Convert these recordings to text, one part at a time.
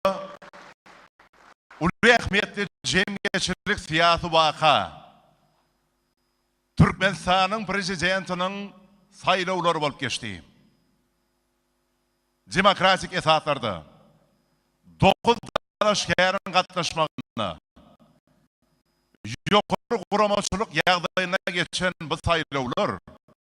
ýylda uly ähmiýetli jemgyýetçilik syýasy waka, Türkmenistanyň Prezidentiniň saýlawlary bolup geçdi. Demokratik esaslarda dokuz dalaşgäriň gatnaşmagynda ýokary guramaçylyk ýagdaýynda geçen bu saýlawlar,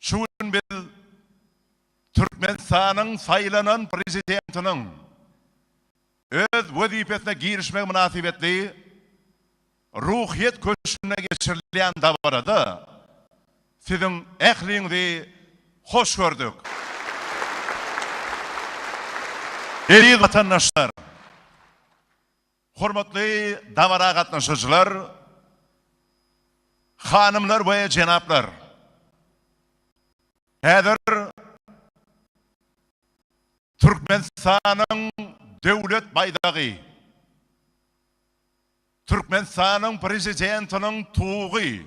Şu gün biz Türkmenistanyň saýlanan Prezidentiniň öz wezipesine girişmegi mynasybetli Ruhyýet köşgünde geçirilýän dabarada siziň ähliňizi hoş gördük. Eziz watandaşlar! Hormatly dabara gatnaşyjylar, hanymlar we jenaplar! Häzir Türkmenistanyň Döwlet baýdagy, Türkmenistanyň Prezidentiniň tugy,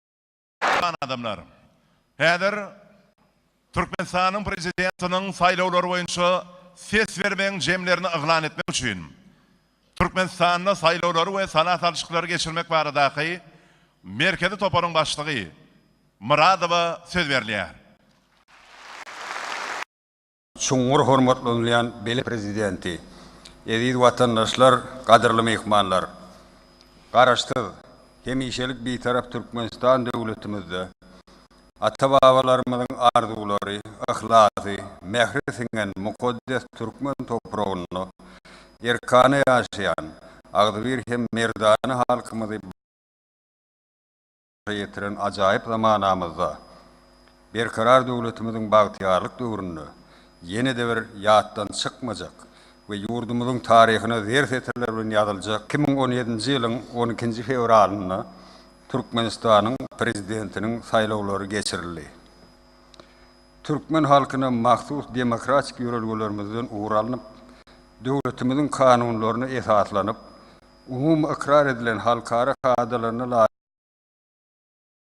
Hormatly adamlar! Häzir Türkmenistanyň Prezidentiniň saýlawlary boýunça ses bermegiň jemlerini yglan etmek üçin Türkmenistanda saýlawlary we sala salşyklary geçirmek baradaky Merkezi toparyň başlygy Myradowa söz berilýär. Çuňňur hormatlanylýan beýle Prezidenti, eziz watandaşlar, gadyrly myhmanlar! Garaşsyz, hemişelik Bitarap Türkmenistan döwletimizde ata-babalarymyzyň arzuwlary, yhlasy, mähri siňen mukaddes türkmen topragynda erkana ýaşaýan agzybir hem merdana halkymyzy başa ýetiren ajaýyp zamanamyzda, Berkarar döwletimiziň bagtyýarlyk döwründe ýene-de bir ýatdan çykmajak we ýurdumyzyň taryhyna zer setirler bilen ýazyljak iki müň on ýedinji ýylyň on ikinji fewralynda Türkmenistanyň Prezidentiniň saýlawlary geçirildi. Türkmen halkyna mahsus demokratik ýörelgelerimizden ugur alnyp, döwletimiziň kanunlaryna esaslanyp, umumy ykrar edilen halkara kadalaryna laýyk,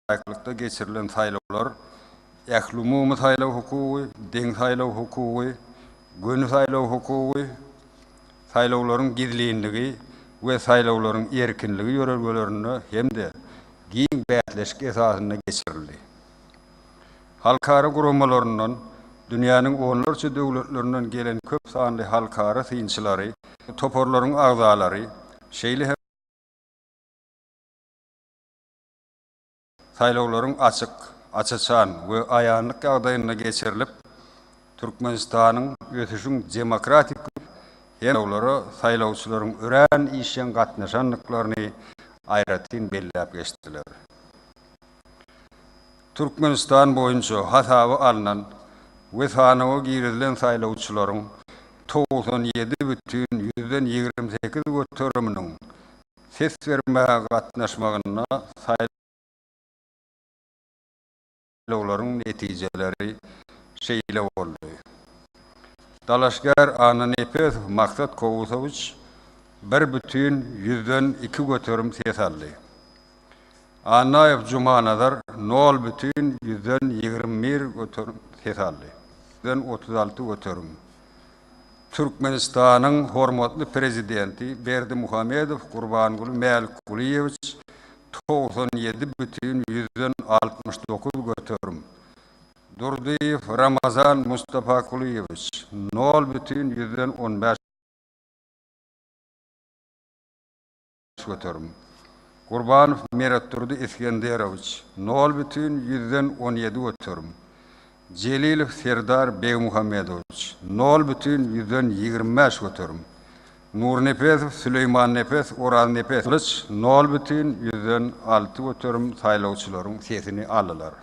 laýyklykda geçirilen saýlawlar ählumumy saýlaw hukugy, deň saýlaw hukugy, göni saýlaw hukugy, saýlawlaryň gizlinligi we saýlawlaryň erkinligi ýörelgelerinde hem-de giň bäsleşik esasynda geçirildi. Halkara guramalaryndan, dünýäniň onlarça döwletlerinden gelen köp sanly halkara synçylary, toparlaryň agzalary, şeýle hem, Saýlawlaryň açyk, aç-açan we aýanlyk ýagdaýynda geçirilip, Türkmenistanyň ösüşiň demokratik we saýlawlara saýlawçylaryň örän işjeň gatnaşandyklaryny aýratyn belläp geçdiler. Türkmenistan boýunça hasaba alnan we sanawa girizilen saýlawçylaryň togsan ýedi bütin ýüzden ýigrimi sekiz göteriminiň Ses bermäge gatnaşmagynda saýlawlaryň netijeleri şeýle boldy. Dalaşgär Annanepesow Maksat Kowusowiç bir bütin ýüzden iki göterim ses aldy. Annaýew Jumanazar nol bütin ýüzden ýigrimi bir göterim ses aldy. Ýüzden otuz alty göterim Türkmenistanyň hormatly Prezidenti Berdimuhamedow Gurbanguly Mälikgulyýewiç togsan ýedi bütin ýüzden altmyş dokuz göterim, Durdyýew Ramazan Mustafakulyýewiç nol bütin ýüzden on bäş, göterim. Gurbanow Meretdurdy Isgenderowiç, nol bütin ýüzden on ýedi göterim. Jelilow Serdar Begmuhammedowiç, nol bütin ýüzden ýigrimi bäş göterim. Nurnepesow Süleýmannepes Oraznepeslyç, nol bütin ýüzden alty göterim saýlawçylaryň sesini aldylar.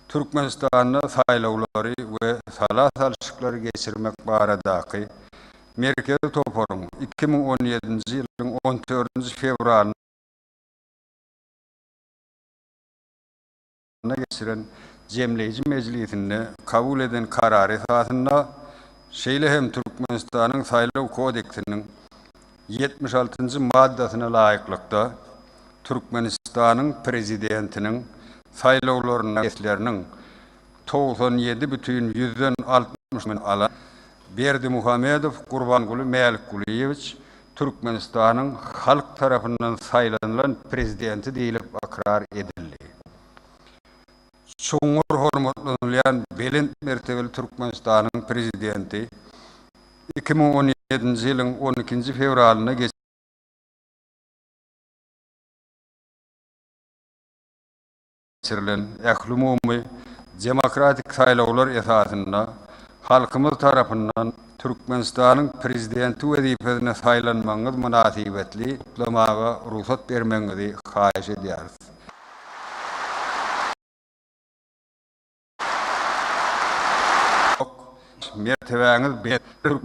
Türkmenistanda saýlawlary we sala salşyklary geçirmek baradaky Merkezi toparyň iki müň on ýedinji ýylyň on dördünji fewralynda geçiren jemleýji mejlisinde kabul eden karary esasynda, şeýle hem Türkmenistanyň Saýlaw kodeksiniň ýetmiş altynjy maddasyna laýyklykda, Türkmenistanyň Prezidentiniň saýlawlaryna sesleriniň togsan ýedi bütin ýüzden altmyş biri alan Berdimuhamedow Gurbanguly Mälikgulyýewiç Türkmenistanyň halk tarapyndan saýlanylan Prezidenti diýlip ykrar edildi. Çuňňur hormatlanylýan belent mertebeli Türkmenistanyň Prezidenti iki müň on ýedinji ýylyň on ikinji fewralynda geçirilen, geçirilen ählumumy demokratik saýlawlar esasynda halkymyz tarapyndan Türkmenistanyň Prezidenti wezipesine saýlanmagyňyz mynasybetli gutlamaga rugsat bermegiňizi haýyş edýäris. Mertebäňiz belent.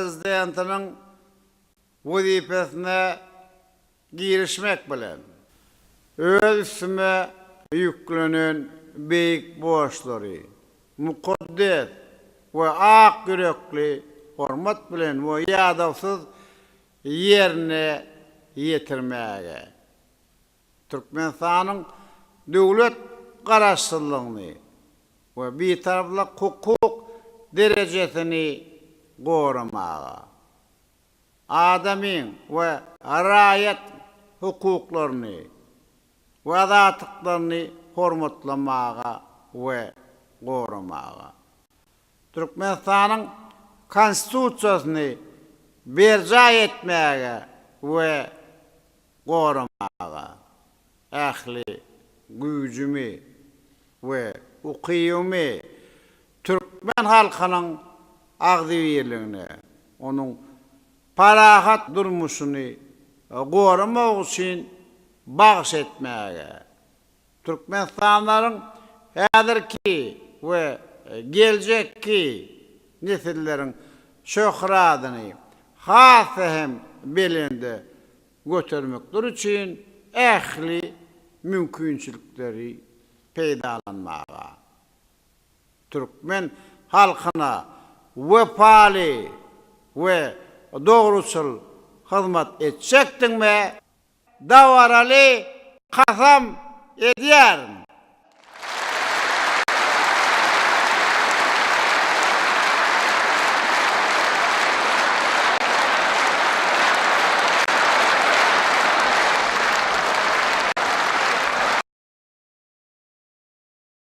Prezidentiniň wezipesine girişmek bilen, öz üstüme ýüklenen beýik borçlary mukaddes we ak ýürekli hormat bilen we ýadawsyz ýerine ýetirmäge Türkmenistanyň döwlet Garaşsyzlygyny we Bitaraplyk hukuk derejesini goramaga, adamyň we raýat hukuklaryny we azatlyklaryny hormatlamaga we goramaga, Türkmenistanyň Konstitusiýasyny berjaý etmäge we goramaga ähli güýjümi we ukybymy türkmen halkynyň agzybirligini, onuň parahat durmuşyny goramak üçin bagyş etmäge, Türkmenistanlylaryň häzirki we geljekki nesilleriň şöhradyny has-da hem belende götermekleri üçin ähli mümkinçilikleri peýdalanmaga, türkmen halkyna wepaly we dogruçyl hyzmat etjekdigime, dabaraly kasam edýärin.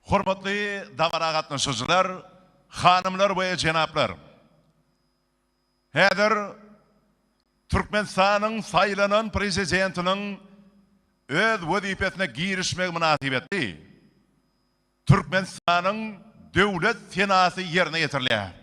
Hormatly dabara gatnaşyjylar, hanymlar we jenaplar! Häzir Türkmenistanyň saýlanan Prezidentiniň öz wezipesine girişmegi mynasybetli Türkmenistanyň Döwlet senasy ýerine ýetirilýär.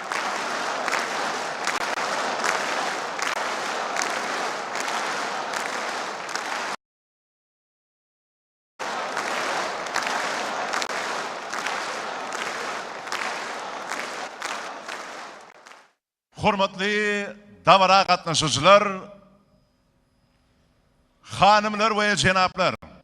Hormatly dabara gatnaşyjylar, hanymlar we jenaplar!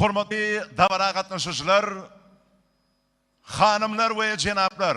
Hormatly dabara gatnaşyjylar, hanymlar we jenaplar!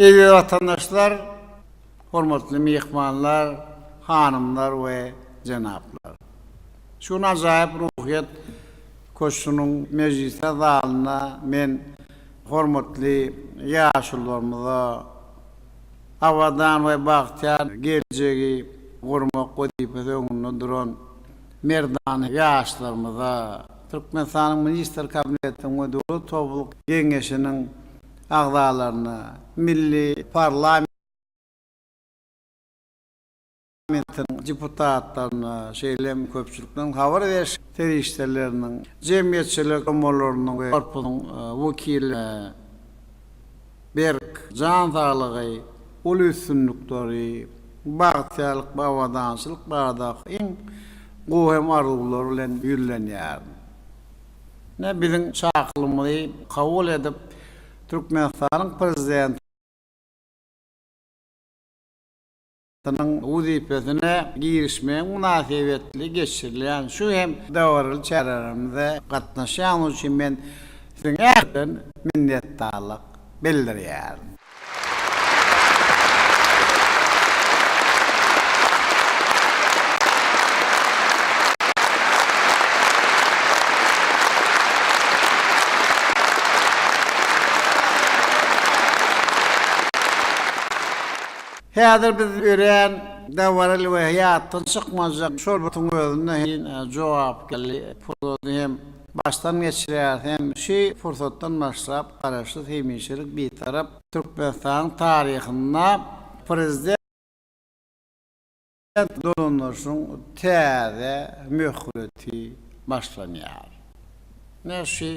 Eziz watandaşlar, hormatly myhmanlar, hanymlar we jenaplar! Şu gün Ajaýyp ruhyýet köşgüniň mejlisler zalynda men hormatly ýaşulularymyza, abadan we bagtyýar geljegi gurmak wezipesi öňünde duran merdana ýaşlarymyza, Türkmenistanyň Ministrler Kabinetiniň we Döwlet Howpsuzlyk Geňeşiniň agzalaryna, milli parlament, Parlamentiň deputatlaryna, şeýle hem köpçülikleýin habar beriş serişdeleriniň, jemgyýetçilik guramalarynyň we korpusyň wekillerine berk jan saglygy, uly üstünlikleri, bagtyýarlyk we abadançylyk baradaky iň gowy hem arzuwlar bilen ýüzlenýärin. Ine, biziň çakylmyzy kabul edip, Türkmenistanyň Prezidenti, Nyň wezipesine girişmegi mynasybetli geçirilýän şu hem dabaraly çärelerimize gatnaşýanyňyz üçin men Siziň ähliňizden minnetdarlyk bildirýärin. Häzir biz örän dabaraly we ýatdan çykmajak şorbutyň özünde hem jogapkärli pursady hem başdan geçirýäris hem şu pursatdan başlap Garaşsyz, hemişelik Bitarap Türkmenistanyň taryhynda Prezident, Prezident dolandyryşyň täze möhleti başlanýar. Ine, şu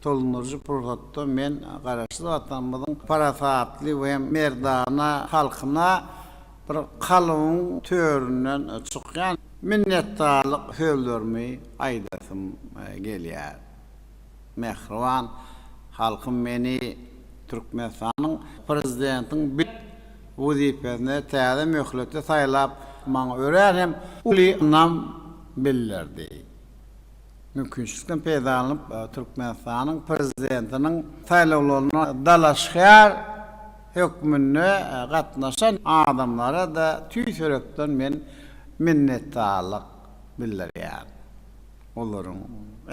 dolandyryjy pursatda men Garaşsyz Watanymyzyň parasatly we merdana halkyna bir kalybyň töründen çykýan minnetdarlyk sözlerimi aýdasym gelýär. Mähriban halkym meni Türkmenistanyň Prezidentiň bet wezipesine täze möhlete saýlap, maňa örän hem uly ynam bildirdi. Mümkinçilikden peýdalanyp, Türkmenistanyň Prezidentiniň saýlawlaryna dalaşgär hökmünde gatnaşan adamlara-da tüýs ýürekden men minnetdarlyk bildirýän. Olaryň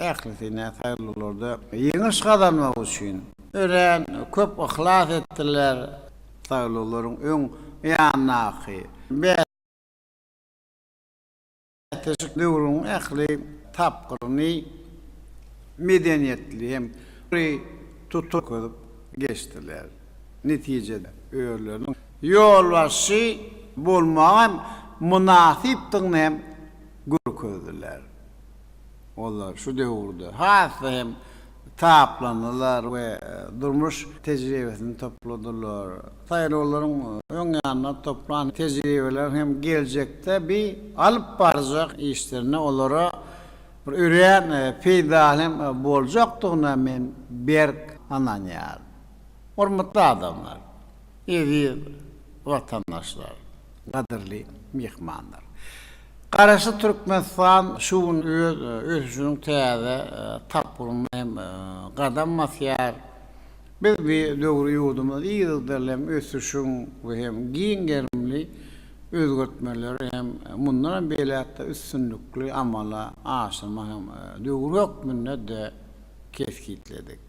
ählisi nä saýyllylarda ýeňiş gazanmak üçin örän köp yhlas etdiler, saýyllylaryň öň ýanyndaky bäs leşik döwrüniň ähli tapgyryny medeniýetli hem ýokary tutup görkezip geçdiler. Netijede, özleriniň ýolbaşçy bolmaga hem mynasypdygyny hem görkezdiler. Olar şu döwürde has-da hem taplandylar we durmuş tejribesini topladylar. Saýlawlaryň öň ýanynda toplan tejribeleri hem geljekde bi alyp barjak işlerinde olara bir örän peýdaly hem boljakdygyna men berk ynanýaryn. Hormatly adamlar! Eziz watandaşlar, gadyrly myhmanlar! Garaşsyz Türkmenistan şu gün öz ösüşiniň täze tapgyryna hem gadam basýar. Biz bu döwri ýurdumyz yzygiderli hem ösüşiň we hem giň gerimli özgertmeleri hem mundanam beýläk-de üstünlikli amala aşyrmagyň döwri hökmünde-de kesgitledik.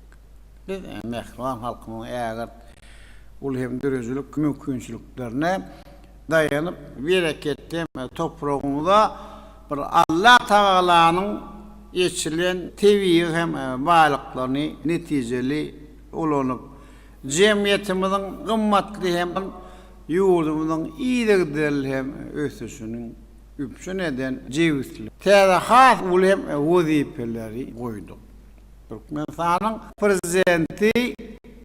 Biz mähriban halkymyzyň ägirt uly hem döredijilik mümkinçiliklerine daýanyp, bereketli topragymyza bir Allatagalanyň eçilen tebigy hem baýlyklaryny netijeli ulanyp, jemgyýetimiziň gymmatly hem ýurdumyzyň yzygiderli hem ösüşini üpjün eden jebisligini täze has uly hem wezipeleri goýduk. Türkmenistanyň Prezidenti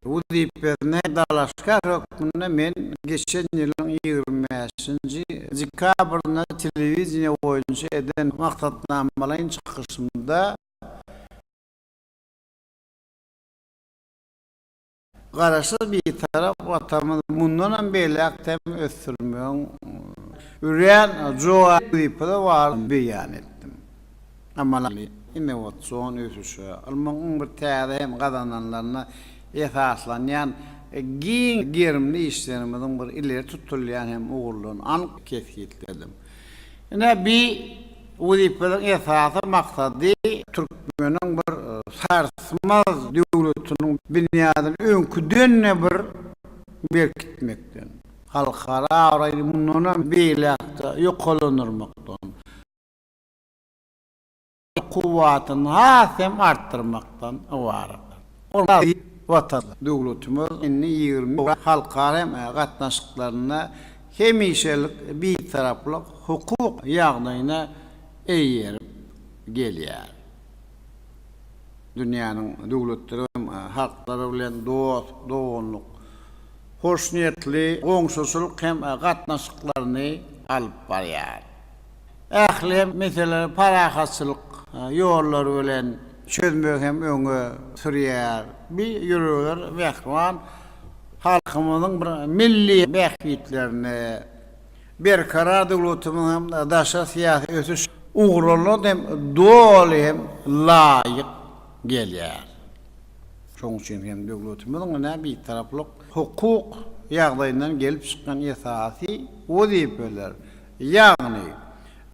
wezipesine dalaşgär hökmünde men geçen ýylyň ýigrimi bäşinji dekabrynda telewideniýe boýunça eden maksatnamalaýyn çykyşymda, Garaşsyz Bitarap Watanymyzy mundanam beýläk-de hem ösdürmegiň örän jogaby wezipeleri bardygyny beýan etdim. Amaly, innowasion ösüşe, ylmyň iň bir täze hem gazananlaryna esaslanýan giň gerimli işlerimiziň bir ileri tutulýan hem ugurlaryny anyk kesgitledim. Ine, bi wezipeleriň esasy maksady türkmeniň bir sarsmaz döwletiniň binýadyny öňküden-de bir berkitmekden, halkara abraýyny mundanam beýläk-de ýokarlandyrmakdan, kuwwatyny has hem artdyrmakdan ybaratdyr. Hormatly Watan! Döwletimiz indi ýigrimi ýyllyk halkara gatnaşyklarynda hemişelik Bitaraplyk hukuk ýagdaýyna eýerip gelýär. Dünýäniň döwletleri hem halklary bilen dost, doganlyk, hoşniýetli goňşuçylyk hem gatnaşyklaryny alyp barýar. Ähli meseleleri parahatçylyk ýollary bilen çözmegi hem öňe sürýär. Bi ýürekler mähriban halkymyzyň bir milli bähbitlerini, Berkarar döwletimiziň hem daşary syýasy ösüş ugurlaryna hem doly hem laýyk gelýär. Şonuň üçin hem döwletimiziň ine Bitaraplyk hukuk ýagdaýyndan gelip çykýan esasy wezipeler, ýagny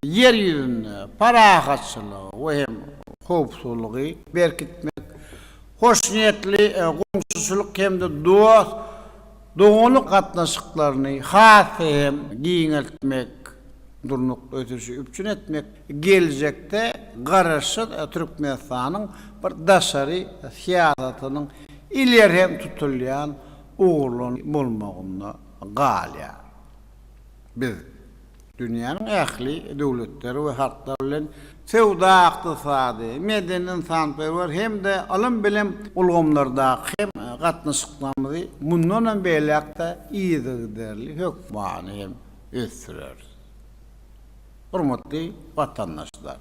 Ýer ýüzünde parahatçylygy we hem howpsuzlygy berkitmek, hoşniýetli goňşuçylyk hem-de dost-doganlyk gatnaşyklaryny has-da hem giňeltmek, durnukly ösüşi üpjün etmek, geljekde Garaşsyz Türkmenistanyň bir daşary syýasatynyň ileri tutulýan ugurlarynyň bolmagynda galýar. Biz dünýäniň ähli döwletleri we halklary bilen söwda-ykdysady, medeni-ynsanperwer hem-de ylym-bilim ulgamlardaky gatnaşyklarymyzy mundanam beýläk-de yzygiderli hökmany hem ösdüreris. Hormatly watandaşlar,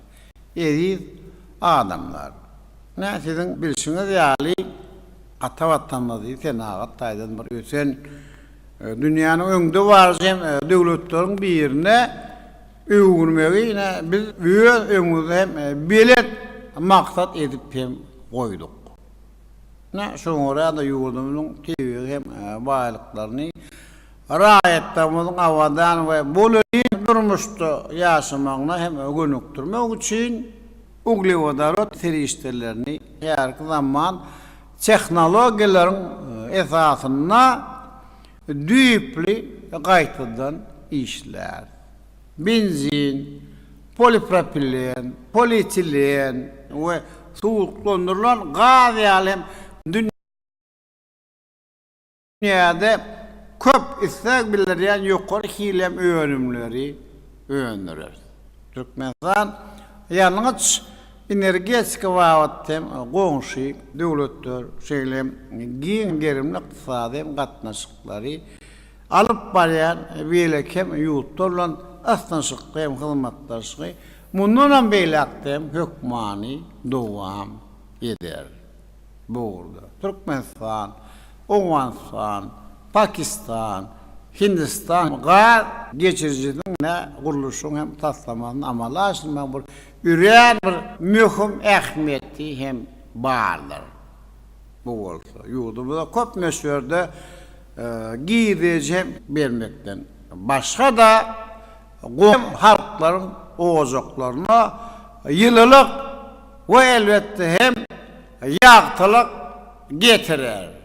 eziz adamlar! Ine, siziň bilşiňiz ýaly, ata Watanymyzy senagat taýdan bir ösen Dünýäniň öňde baryjy döwletleriň birine öwürmegi ine biz öz öňümizde hem belent maksat edip hem goýduk. Ine şoňa görä-de ýurdumyzyň tebigy hem baýlyklaryny raýatlarymyzyň abadan we bolelin durmuşda ýaşamagyna hem gönükdirmek üçin uglewodorod serişdelerini häzirki zaman Tehnologiýalaryň esasynda düýpli gaýtadan işlär. Benzin, polipropilen, polietilen we suwuklandyrylan gaz ýaly hem dünýä. Dünýäde köp isleg bildirýän ýokary hilem önümleri öndüreris. Türkmenistan ýangyç, energetika babatda hem goňşy döwletler, şeýle hem giň gerimli ykdysady gatnaşyklary alyp barýan beýleki hem ýurtlar bilen ysnyşykly hem hyzmatdaşlygy mundanam beýläkde hem hökmany dowam ederis. bu ugurda Türkmenistan, Owganystan, Pakistan, Hindistan gaz geçirijisiniň ne gurluşygyny hem taslamasyny amala aşyrmagyň bir örän bir möhüm ähmiýeti hem bardyr. Bu bolsa ýurdumyza köp möçberde girdeji hem bermekden başga-da goňşy halklaryň ojaklaryna ýylylyk, we elbetde hem ýagtylyk getirer.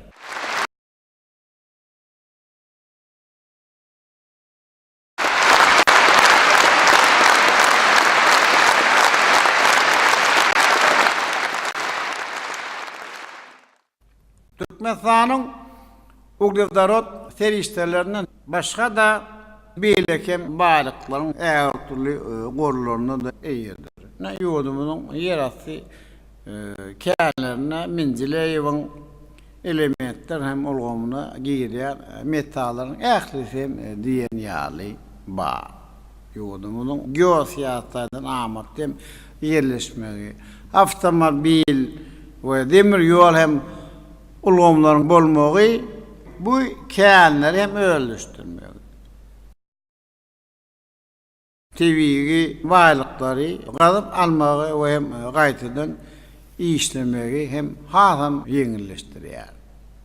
Türkmenistanyň uglewodorod serişdelerinden başga-da beýleki hem baýlyklaryň äherdürli gorlaryna-da eýedir. Ine, ýurdumyzyň ýerasty känlerinde Mendileýewiň elementler hem ulgamyna girýän metallaryň ählisi hem diýen ýaly bar. Ýurdumyzyň geosyýasy taýdan amatly hem ýerleşmegi, awtomobil we demir ýol hem ulgamlaryň bolmagy bu känleri hem özleşdirmegi, tebigy baýlyklary gazyp almagy we hem gaýtadan işlemegi hem hasam ýeňilleşdirýär.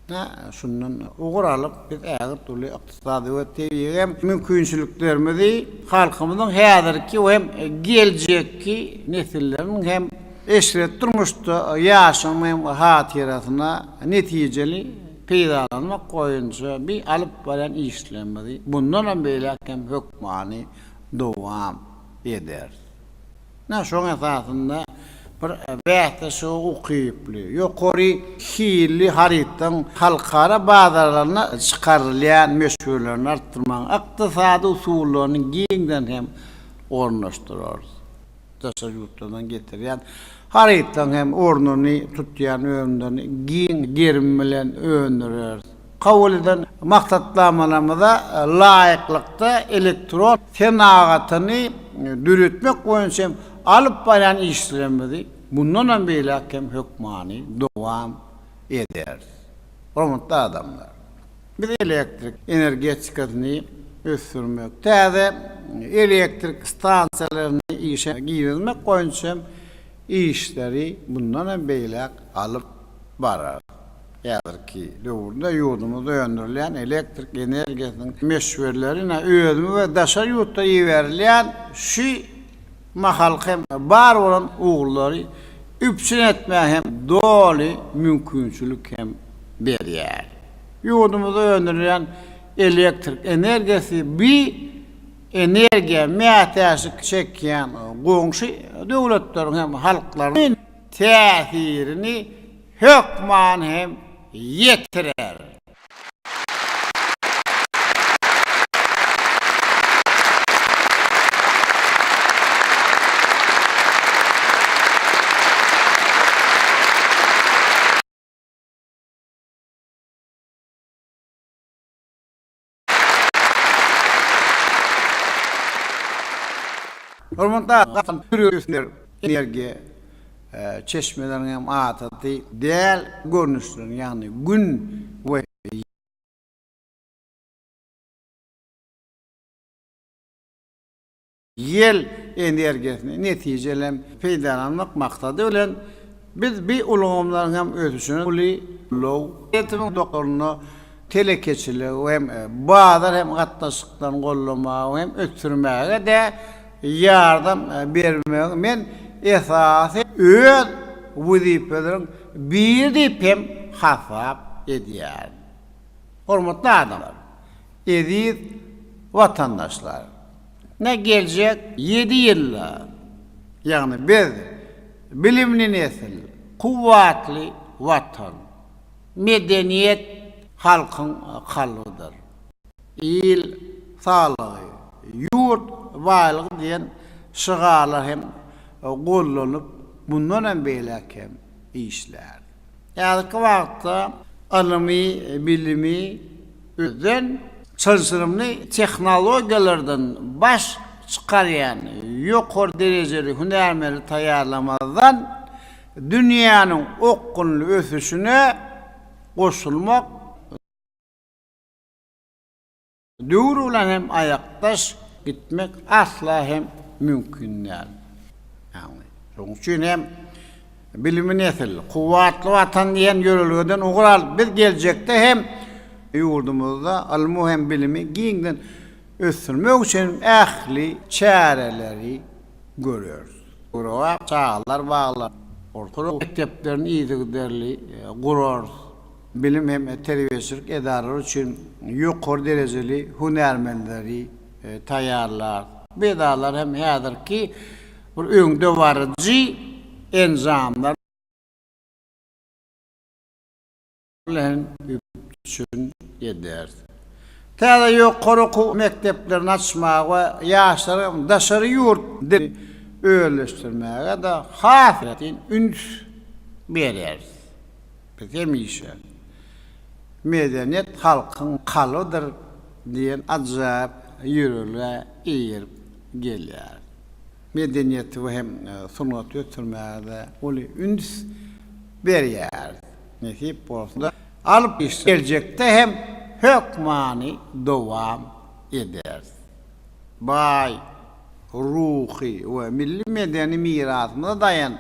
Hä, şundan ugur alyp, biz ägirt uly ykdysady we tebigy hem mümkinçiliklerimizi halkymyzyň häzirki hem geljekki nesilleriň hem eşret durmuşda ýaşamagyň hatyrasyna netijeli peýdalanmak boýunça bi alyp barýan işlerimizi bundanam beýläk hem hökmany dowam ederis. Ine, şoň esasynda bir bäsleşige ukyply, ýokary hilli harytlaryň halkara bazarlaryna çykarylýan möçberlerini artdyrmagyň ykdysady usullaryny giňden hem ornaşdyrarys. Daşary ýurtlardan getirýän harytlaryň hem ornuny tutýan önümlerini giň gerim bilen öndüreris. Kabul eden maksatnamalarymyza laýyklykda, elektron senagatyny döretmek boýunça hem alyp barýan işlerimizi mundanam beýläk hem hökmany dowam ederis. Hormatly adamlar! Biz elektrik energetikasyny ösdürmek, täze elektrik stansiýalaryny işe girizmek boýunça hem işleri mundanam beýläk alyp bararys. Häzirki döwürde ýurdumyzda öndürilýän elektrik energiýasynyň möçberleri özümiz we daşary ýurtdan iberilýän şu mahalky hem bar bolan ugurlary üpjün etmäge hem doly mümkinçilik hem berýär. Ýurdumyzda öndürilýän elektrik energiýasy bi energiýa mätäçlik çekýän goňşy döwletleriň hem halklarynyň täsirini hökman hem ýetirer. Hormatly Gahryman Pürüýewiler energiýa çeşmeleriniň hem adaty däl görnüşlerini, ýagny Gün we Ýel energiýasyny netijeli peýdalanmak maksady bilen, biz bi ulgamlaryň hem ösüşine uly ulag ulgamynyň dolandyrylyşyna, telekeçiligi hem bazar hem gatnaşyklaryny goldamaga hem ösdürmäge-de ýardam bermegi men esasy öz wezipeleriň biri diýip hem hasap edýärin. Hormatly adamlar! Eziz watandaşlar! Ine geljek ýedi ýylda, ýagny biz bilimli nesil, kuwwatly Watan. Medeniýet halkyň kalbydyr. Il saglygy, ýurt baýlygy diýen şygarlar hem gollanyp, mundan hem beýläk hem işlär. Häzirki wagtda ylmy bilimi özden çylşyrymly tehnologiýalardan baş çykarýan ýokary derejeli hünärmeni taýýarlamazdan dünýäniň okgunly ösüşine goşulmak Döwür bilen hem aýakdaş gitmek asla hem mümkin däl. Ýagny, şonuň üçin hem Bilimli nesil, kuwwatly Watan diýen ýörelgeden ugur alyp, biz geljekde hem ýurdumyzda ylmy hem bilimi giňden ösdürmek üçin ähli çäreleri göreris. Çagalar baglaryny, orta mekdeplerini yzygiderli gurarys. bilim hem terbiýeçilik edaralary üçin ýokary derejeli hünärmenleri taýýarlar. Bu edaralar hem häzirki bir öňdebaryjy enjamlar bilen üpjün eder. Täze ýokary okuw mekdeplerini açmaga we ýaşlaryň daşary ýurt dilini özleşdirmäge-de has aýratyn üns bereris. Biz hemişe Medeniýet halkyň kalbydyr diýen ajaýyp ýörelgä eýerip gelýäris. Medeniýeti we hem sungaty ösdürmäge-de uly üns berýäris. Nesip bolsa, alyp geljekde hem hökmany dowam ederis. Baý ruhy we milli medeni mirasymyza daýan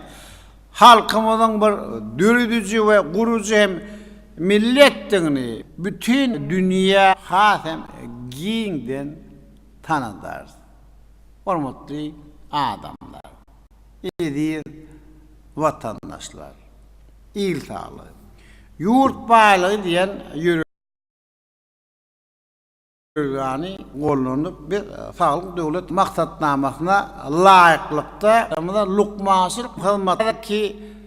Halkymyzyň bir dörediji we gurujy hem milletdigini bütin dünýä has hem giňden tanadarys. Hormatly adamlar, eziz watandaşlar! Il saglygy, ýurt baýlygy diýen ýörelge. Ýörgäni gollandyk. Biz Saglyk Döwlet maksatnamasyna laýyklykda, lukmançylyk hyzmatynyňky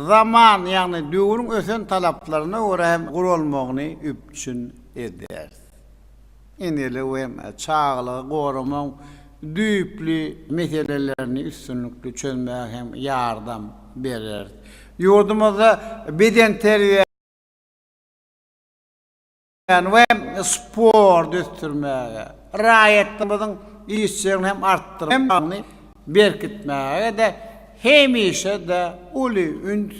zaman, ýagny döwrüň ösen talaplaryna görä hem guralmagyny üpjün ederis. Enelik we çagalygy goramagyň düýpli meselelerini üstünlikli çözmäge hem ýardam bereris. Ýurdumyzda bedenterbiýä. bilen we sporty ösdürmäge, raýatlarymyzyň işjeňligini hem artdyryp, hem saglygyny berkitmäge-de hemişe-de uly üns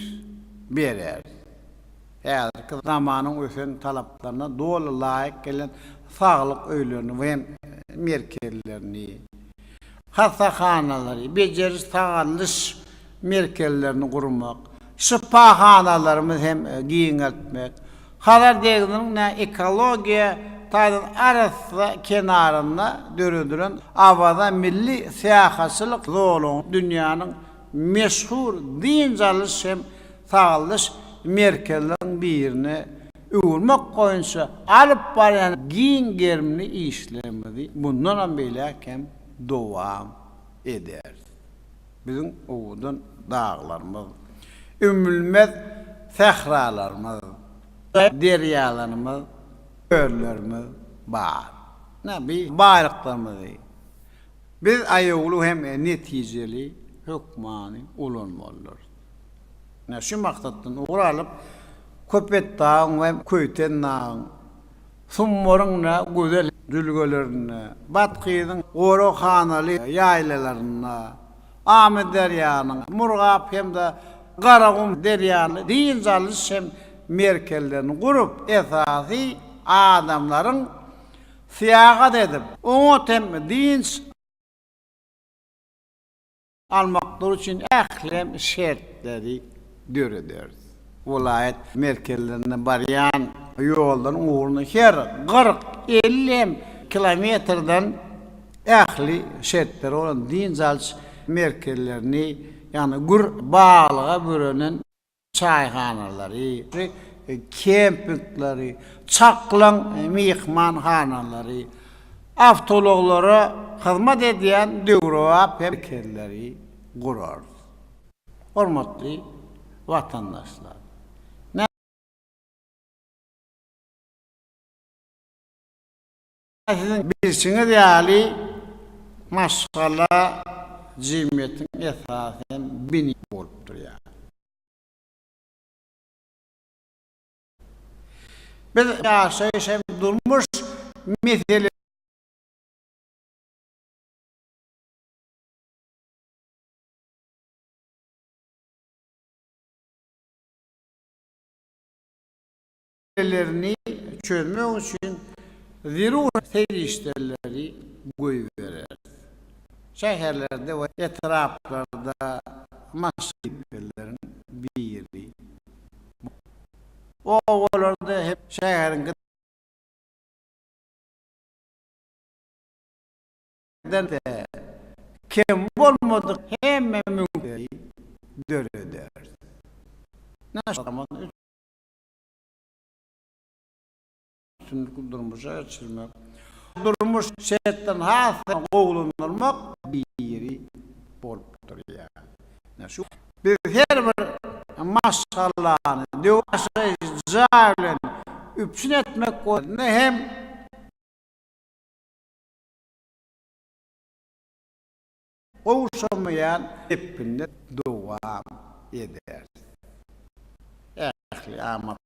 bereris. Häzirki zamanyň ösen talaplaryna doly laýyk gelen saglyk öýlerini we merkezlerini, hassahanalary, bejeriş-sagaldyş merkezlerini gurmak, şypahanalarymyzy hem giňeltmek, Hazar deňziniň ekologiýa taýdan arassa kenarynda döredilen Awaza milli syýahatçylyk zolagyny dünýäniň meşhur dynç alyş hem sagaldyş merkezleriniň birine öwürmek boýunça alyp barýan giň gerimli işlerimizi mundanam beýläk hem dowam ederis. Biziň owgan daglarymyz, ümmülmez sähralarymyz, derýalarymyz, çöllerimiz bar. Ine, bu baýlyklarymyzy biz aýawly hem netijeli hökmany ulanmalydyrys. Şu maksatdan ugur alyp, Köpetdagyň we Köýtendagyň, Summuryň we Gözel jülgelerinde, Bathyzyň goraghanaly ýaýlalarynda, Amyderýanyň, Murgap hem-de Garagum derýaly dynç alyş hem merkezlerini gurup, esasy adamlaryň syýahat edip, oňat hem dynç. almaklygy üçin ähli şertleri dörederis. Welaýat merkezlerine barýan ýollaryň ugruna her kyrk, elli hem kilometrden ähli şertleri bolan dynç alyş merkezlerini, ýagny gür baglyga bürenen, çaýhanalary we kempingleri, çaklaň myhmanhanalary, awtoulaglara hyzmat edýän döwrebap merkezleri gurarys. Hormatly watandaşlar! Siziň bilşiňiz ýaly, maşgala jemgyýetiň esasy hem bini bolup durýar. Biz ýaşaýyş hem durmuş meselelerini. meselelerini çözmek üçin zerur serişdeleri goýbereris. Şäherlerde we etraplarda maşgalapeleriň biri bu. Obalarda hem şäheriň gidaýynda kem bolmadyk hemme mümkinçilikleri dörederis. Naşynyň Üstünlikli durmuşa geçirmek. Durmuş çetden has gowulandyrmak biri bolup durýar. Biz her bir maşgalany döwür ýaşaýyş jaý bilen üpjün etmek boýunça hem. gowşamaýan depginde dowam eder. Ähli amatlary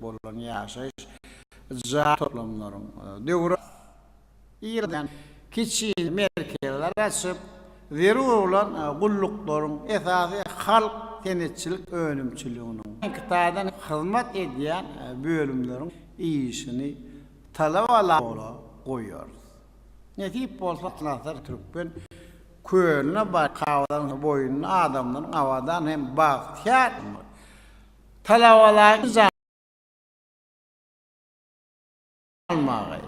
bolan ýaşaýyş jaý toplumlaryň döwri ýygydan kiçi merkezleri açyp, zerur bolan gulluklaryň, esasy halk senetçilik önümçiliginiň, kitadan hyzmat edýän bölümleriň işini Talabalara goýarys. Nesip bolsa Atlaslar Türkmen kölüne baryp Kabalaryň boýunda adamlaryň abadan hem bagtyýar talabalaryň janyny almagy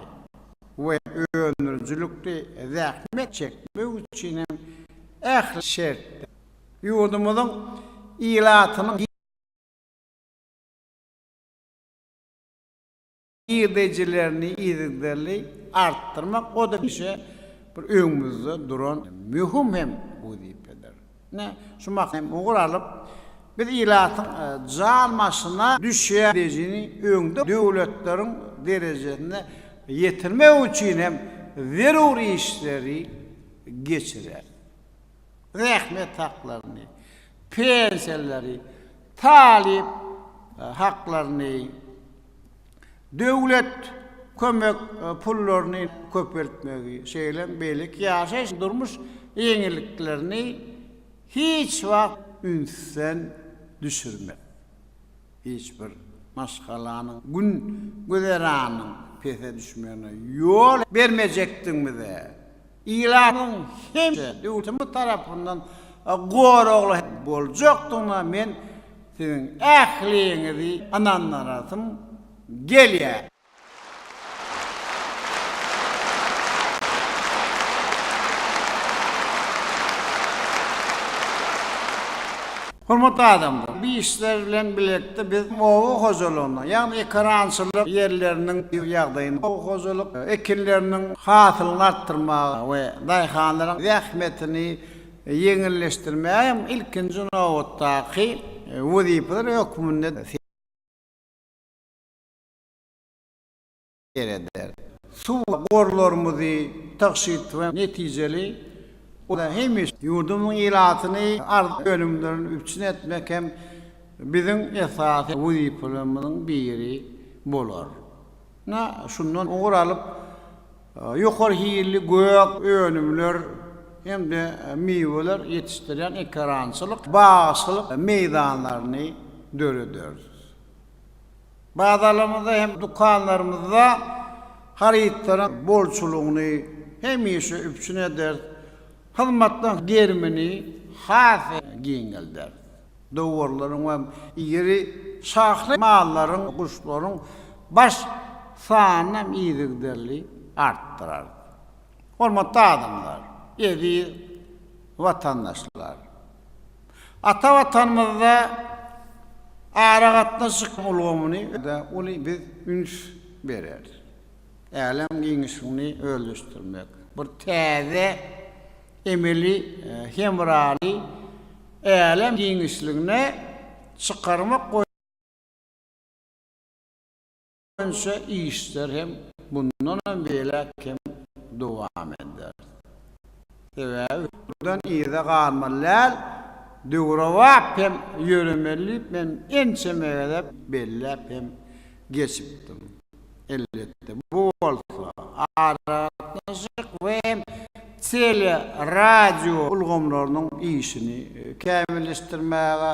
we öndürijilikli zähmet çekmegi üçin hem ähli şertleri, ýurdumyzyň ilatynyň, girdejilerini yzygiderli artdyrmak o-da hemişe bir öňümizde duran möhüm hem wezipedir. Ine, şu maksady hem ugur alyp, biz ilatyň jan başyna düşýän girdejini öňde döwletleriň derejesine ýetirmek üçin hem zerur işleri geçireris. zähmet haklaryny, pensiýalary, talyp haklaryny, döwlet kömek pullaryny köpeltmegi, şeýle-m beýleki ýaşaýyş, durmuş ýeňilliklerini hiç wagt ünsden düşürmek, hiç bir maşgalanyň gün güzeranynyň pese düşmegine ýol bermejekdigimize, Ilatyň hemişe döwletimiz tarapyndan goragly boljakdygyna men siziň ähliňizi ynandyrasym gelýär. Hormatly adamlar, bu işler bilen birlikde biz oba hojalygyna, ýagny ekerançylyk ýerleriniň ýagdaýyna, oba hojalyk ekinleriniň hasylyny artdyrmaga we daýhanlaryň zähmetini ýeňilleşdirmäge hem ilkinji nobatdaky wezipeler hökmünde sereder. Suw gorlarymyzy tygşyt we netijeli ulanyp, hemişe ýurdumyzyň ilatyny arzyly önümlerden üpjün etmek hem biziň esasy wezipelerimiziň biri bolar. Ine, şundan ugur alyp, ýokary hilli gök önümler hem-de miweler ýetişdirýän ekerançylyk, bagçylyk meýdanlaryny dörederis. Bazalarymyzda hem dükanlarymyzda harytlaryň bolçulygyny hemişe üpjün ederis, hyzmatlaryň gerimini has giňelderis. Dowarlaryň we iri şahly mallaryň, guşlaryň baş sanyny hem yzygiderli artdyrarys. Hormatly adamlar, eziz watandaşlar! Ata Watanymyzda aragatnaşyk ulgamyny we uly biz üns bereris. Älem giňişligini özleşdirmek, bir täze emeli hemraly älem giňişligine çykarmak boýunça, boýunça işler hem mundanam beýläk hem dowam eder. Sebäbi. Mundan yza galmaly däl, döwrebap hem ýöremeli diýip men ençeme gezek belläp hem geçipdim. Elbetde, bu bolsa aragatnaşyk we hem tele-radio ulgamlarynyň işini kämilleşdirmäge,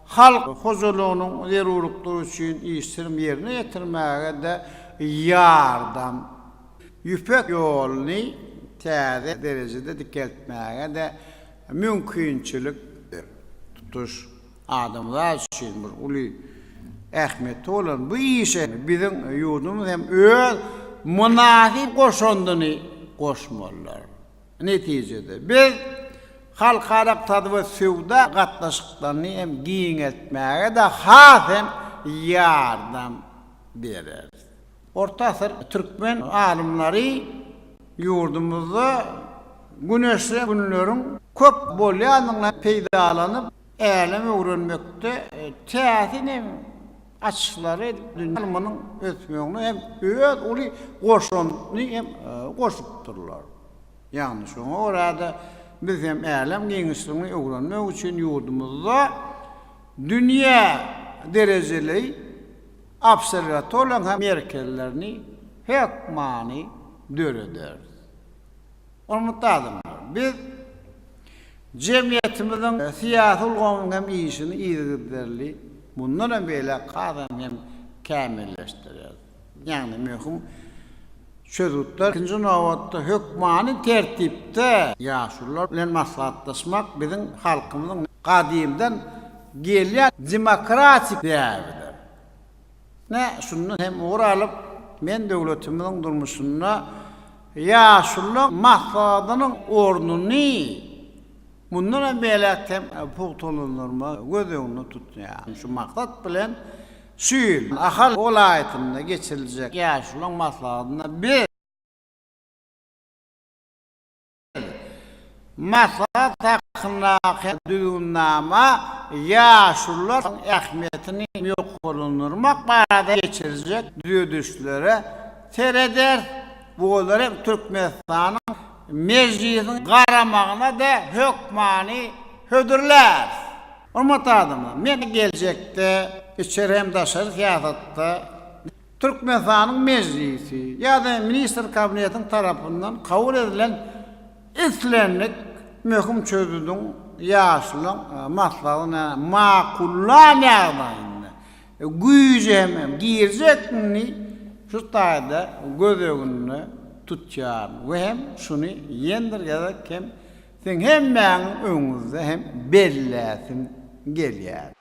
Halk hojalygynyň zerurlyklary üçin işlerini ýerine ýetirmäge-de ýardam, Ýüpek ýoluny täze derejede dikeltmäge-de mümkinçilik beripdir. Tutuş adamzat üçin bir uly ähmiýeti bolan bu işe biziň ýurdumyz hem öz mynasyp goşandyny goşmalydyr. Netijede, biz halkara ykdysady we söwda gatnaşyklaryny hem giňeltmäge-de has hem ýardam bereris. Orta asyr türkmen alymlary ýurdumyzda güneşli günleriň köp bolýandygyny peýdalanyp, Älem öwrenmekde täsin hem açyşlary dünýä ylmynyň ösmegine hem öz uly goşandyny hem goşupdyrlar. Ýagny şoňa görä-de biz hem älem giňişligini öwrenmek üçin ýurdumyzda dünýä derejeli obserwatoriýanyň hem merkezlerini hökmany dörederis. Hormatly adamlar! Biz jemgyýetimiziň syýasy ulgamynyň hem işini yzygiderli, mundan hem beýläk hasam hem kämilleşdirýäris. Ýagny möhüm çözgütler, ikinji nobatda, hökmany tertipde ýaşulular bilen maslahatlaşmak biziň halkymyzyň gadymdan gelýän demokratik däbidir. Ine, şundan hem ugur alyp, men döwletimiziň durmuşynda ýaşuluň maslahatynyň ornuny mundan hem beýläk hem pugtalandyrmagy göz öňünde tutýan. Şu maksat bilen, şu ýyl Ahal welaýatynda geçiriljek ýaşuluň maslahatynda biz. Maslahat hakyndaky düzgünnama ýaşulularyň ähmiýetini ýokarlandyrmak barada geçiriljek düzedişlere sereder we olar hem Türkmenistanyň Mejlisiniň garamagyna we hökmany hödürlär. Hormatly adamlar, men geljekde içeri hem daşary syýasatda Türkmenistanyň Mejlisi ýa-da Ministrler Kabinetiniň tarapyndan kabul edilen islendik möhüm çözgüdiň ýaşlaryň maslahatyna makullan ýagdaýynda güýje hem girjekdigini şu taýda göz öňünde tutýaryn we hem şuny ýendir gezek hem siziň hemmäňiň öňüňizde hem belläsim gelýär.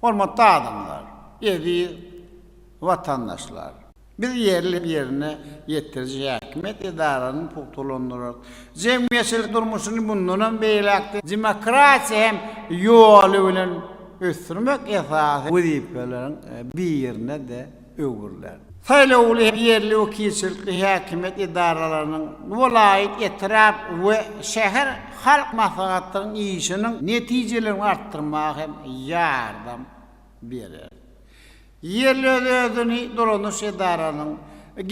Hormatly adamlar, eziz watandaşlar! Biz ýerli ýerine ýetiriji häkimiýet edaralaryny pugtalandyrarys. Jemgyýetçilik durmuşyny mundanam beýläk-de demokratiýa hem ýoly bilen ösdürmek esasy wezipeleriň birine-de öwrüler. Saýlawly ýerli wekilçilikli häkimiýet edaralarynyň welaýat, etrap we şäher halk maslahatlarynyň işiniň netijelerini artdyrmaga hem ýardam berer. Ýerli öz-özüni dolanyş edaranyň,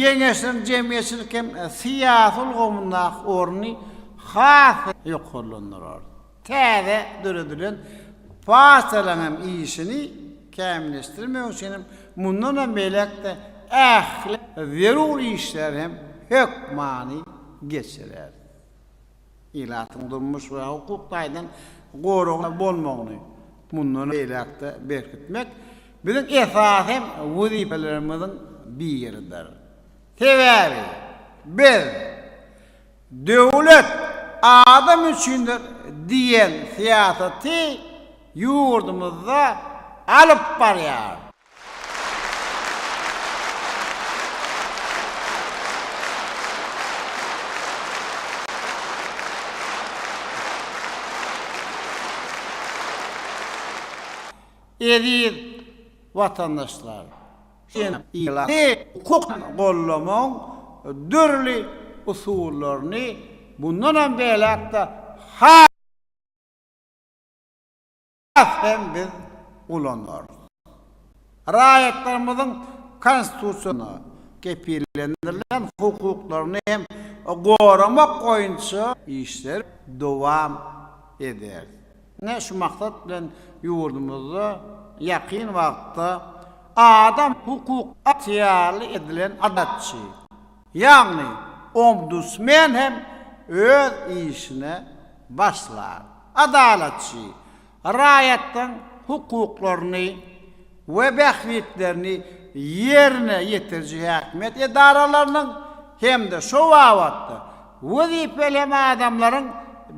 geňeşleriň jemgyýetçilik hem syýasy ulgamyndaky orny has-da ýokarlandyrar. Täze döredilen partiýalaryň hem işini kämilleşdirmek üçin hem mundanam beýläk-de ähli zerur işleri hem hökmany geçirer. Ilatyň durmuş we hukuk taýdan goragly bolmagyny mundan beýläk-de berkitmek biziň esasy wezipelerimiziň biridir. Sebäbi biz. Döwlet adam üçindir diýen syýasaty ýurdumyzda alyp barýar. Eziz watandaşlar! Sen ylahy hukuky gollamagyň dürli usullaryny mundanam beýläk-de has hem biz ulanarys. Raýatlarymyzyň Konstitusiýada kepillendirilen hukuklaryny hem goramak boýunça işleri dowam ederis. Ine, şu maksat bilen ýurdumyzda ýakyn wagtda adam hukuk ygtyýarly edilen adatçy, ýagny ombudsmen hem öz işine başlar. Adalatçy, raýatlaryň hukuklaryny, we bähbitlerini ýerine ýetiriji häkimiýet edaralarynyň hem-de şo babatda wezipeli hem adamlaryň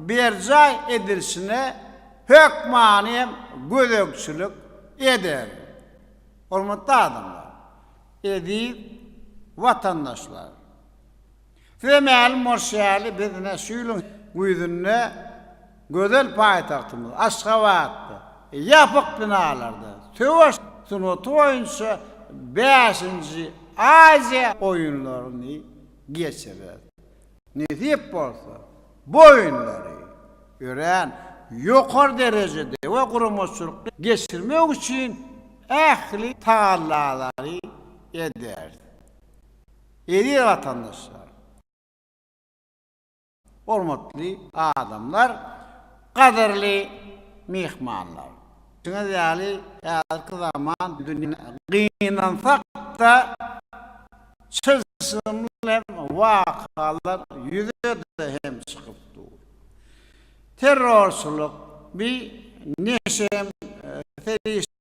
berjaý edilişine hökmany hem gözegçilik eder. Hormatly adamlar, eziz watandaşlar! Size mälim bolşy ýaly, biz ine şu ýylyň güýzünde gözel paýtagtymyz Aşgabatda ýapyk binalarda söweş sungaty boýunça bäşinji Aziýa oýunlaryny geçireris. Nesip bolsa, bu oýunlary örän ýokary derejede we guramaçylykly geçirmek üçin ähli tagallalary ederis. Eziz watandaşlar! Hormatly adamlar! Gadyrly myhmanlar! Bilşiňiz ýaly, häzirki zaman dünýä gynansak-da, çylşyrymly hem wakalar ýüze-de hem çykyp dur. Terrorçylyk, bi neşe hem serişdeler,